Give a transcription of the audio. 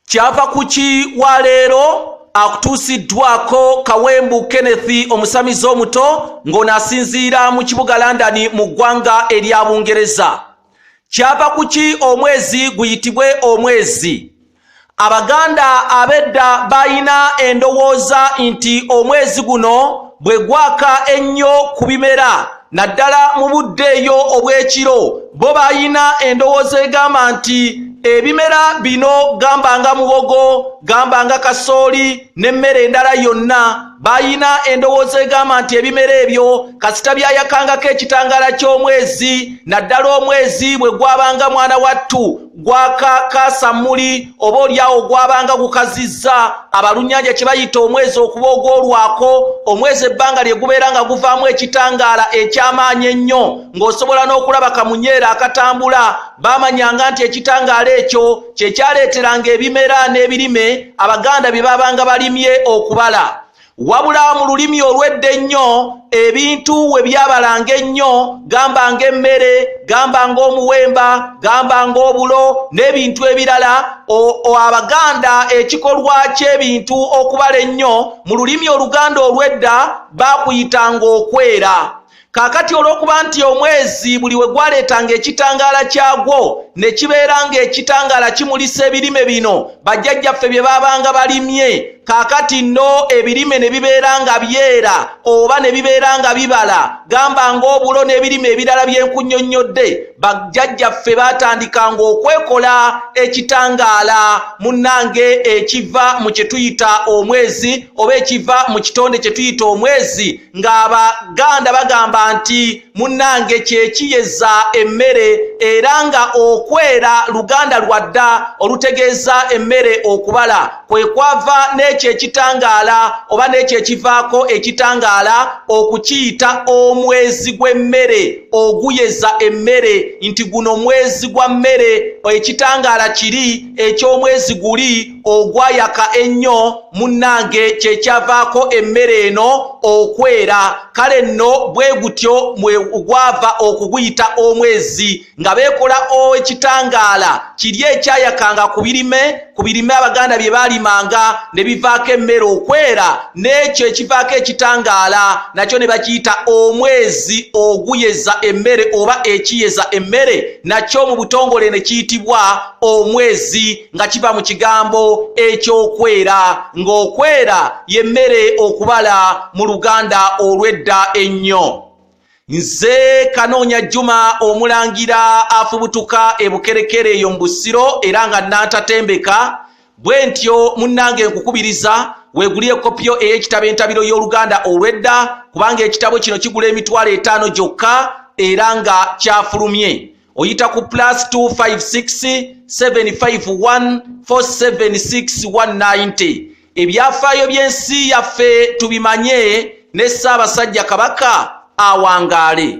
kyava ku ki wa leero akutuusiddwako kawembu kenneth omusamize omuto ng'ono asinziira mu kibuga london mu ggwanga erya bungereza kyava ku ki omwezi guyitibwe omwezi abaganda abedda balina endowooza nti omwezi guno bwe gwaka ennyo ku bimera naddala mu budde eyo obw'ekiro bo balina endowooza egamba nti ebimera bino gamba nga muwogo gamba nga kasooli n'emmere endala yonna balina endowooza egamba nti ebimera ebyo kasita byayakangako ekitangaala ky'omwezi naddala omwezi bwe gwabanga mwana wattu gwakakaasa muli oba olyawo gwabanga gukazizza abalunnyanja kye bayita omwezi okuba ogwolwako omwezi ebbanga lye gubeera nga guvaamu ekitangaala eky'amaanyi ennyo ng'osobola n'okulaba kamunyeera akatambula baamanyanga nti ekitangaala ekyo kye kyaleeteranga ebimera n'ebirime abaganda bye baabanga balimye okubala wabula mu lulimi olwedda ennyo ebintu we byabalanga ennyo gamba ng'emmere gamba ng'omuwemba gamba ng'obulo n'ebintu ebirala abaganda ekikolwa ky'ebintu okubala ennyo mu lulimi oluganda olwedda baakuyitanga okwera kaakati olw'okuba nti omwezi buli we gwaleetanga ekitangaala kyagwo ne kibeera ng'ekitangaala kimulisa ebirime bino bajjajjaffe bye baabanga balimye kaakati nno ebirime ne bibeera nga byera oba ne bibeera nga bibala gamba ng'obulo n'ebirime ebirala by'enkunyonnyodde bajjajjaffe baatandikanga okwekola ekitangaala munnange ekiva mu kye tuyita omwezi oba ekiva mu kitonde kye tuyita omwezi ng'abaganda bagamba nti munnange kyekiyeza emmere era nga okwera luganda lwadda olutegeeza emmere okubala kwe kwava n'ekyo ekitangaala oba n'ekyo ekivaako ekitangaala okukiyita omwezi gw'emmere oguyeza emmere nti guno mwezi gwa mmere ekitangaala kiri eky'omwezi guli ogwayaka ennyo munnange kyekyavaako emmere eno okwera kale nno bwe gutyo gwava okuguyita omwezi nga beekola ekitangaala kiri ekyayakanga ku birime ku birime abaganda bye baalimanga ne bivaako emmere okwera n'ekyo ekivaako ekitangaala nakyo ne bakiyita omwezi oguyeza emmere oba ekiyeza emmere nakyo mu butongole ne kiyitibwa omwezi nga kiva mu kigambo ekyokwera ng'okwera y'emmere okubala mu luganda olw'edda ennyo nze kanoonya jjuma omulangira afubutuka ebukerekere eyo mu busiro era nga nantatembeka bwe ntyo munnange nkukubiriza weeguli ekopiyo ey'ekitabo entabiro y'oluganda olw'edda kubanga ekitabo kino kigula emitwalo etaano gyokka era nga kyafulumye oyita ku plus 256751476190 ebyafaayo by'ensi yaffe tubimanye ne ssaabasajja kabaka awangaale